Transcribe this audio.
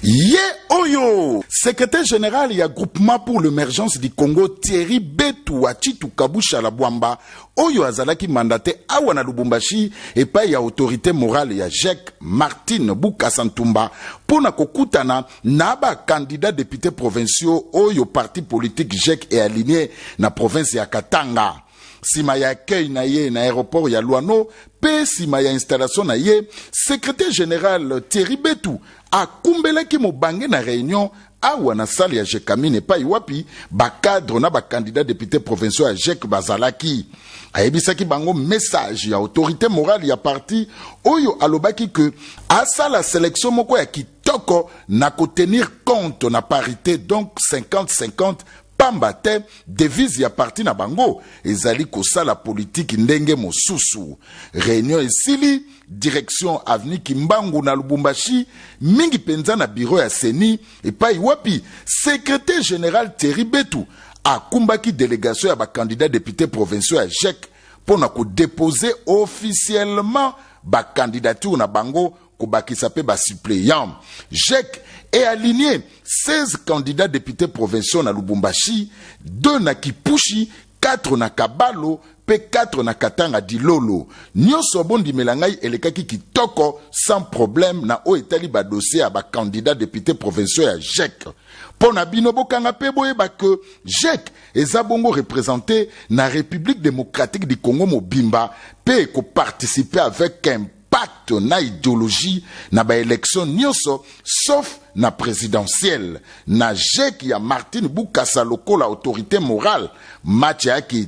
ye oyo secrétaire général ya groupement pour l'émergence du congo thierry betu wa chitu kabushala bwamba oyo azalaki mandate awa na lubumbashi epai ya autorité morale ya jec martine bukasa ntumba mpo na kokutana na bakandida depute provinciaux oyo parti politique jec ealigne na province ya katanga Sima ya accueil na ye na aéroport ya Luano pe sima ya installation na ye, secrétaire général Thierry Betu akumbelaki mobange na reunion awa na salle ya Jecamine epai wapi ba cadre na ba candidats depute provinciaux ya JEC bazalaki. Ayebisaki bango message ya autorité morale ya parti oyo alobaki que asala selection moko ya kitoko na ko tenir compte na parité donc 50-50 Pamba te devise ya parti na bango ezali kosala politiki ndenge mosusu. Reunion esili, direction avenue Kimbangu na Lubumbashi, mingi penza na bureau ya ceni epayi wapi Secretaire general Thierry Betu akumbaki delegation ya ba candidats deputes provinciaux ya GEC mpo na ko deposer officiellement ba candidatures na bango kobakisa pe ba suppleants GEC et aligner 16 candidats députés provinciaux na Lubumbashi, 2 na Kipushi, 4 na Kabalo pe 4 na Katanga Dilolo. Nionso bondimela ngai elekaki kitoko sans problème na oyo etali ba dossiers ya ba candidats députés provinciaux ya GEC. Mpo na bino bokanga pe boyeba que GEC eza bongo represente na Republique democratique du Congo mobimba pe ekoparticipe avec un pacte na ideologie na ba elections nionso sauf na presidentielle na jeki ya Martine Bukasa lokola autorite morale match ayaki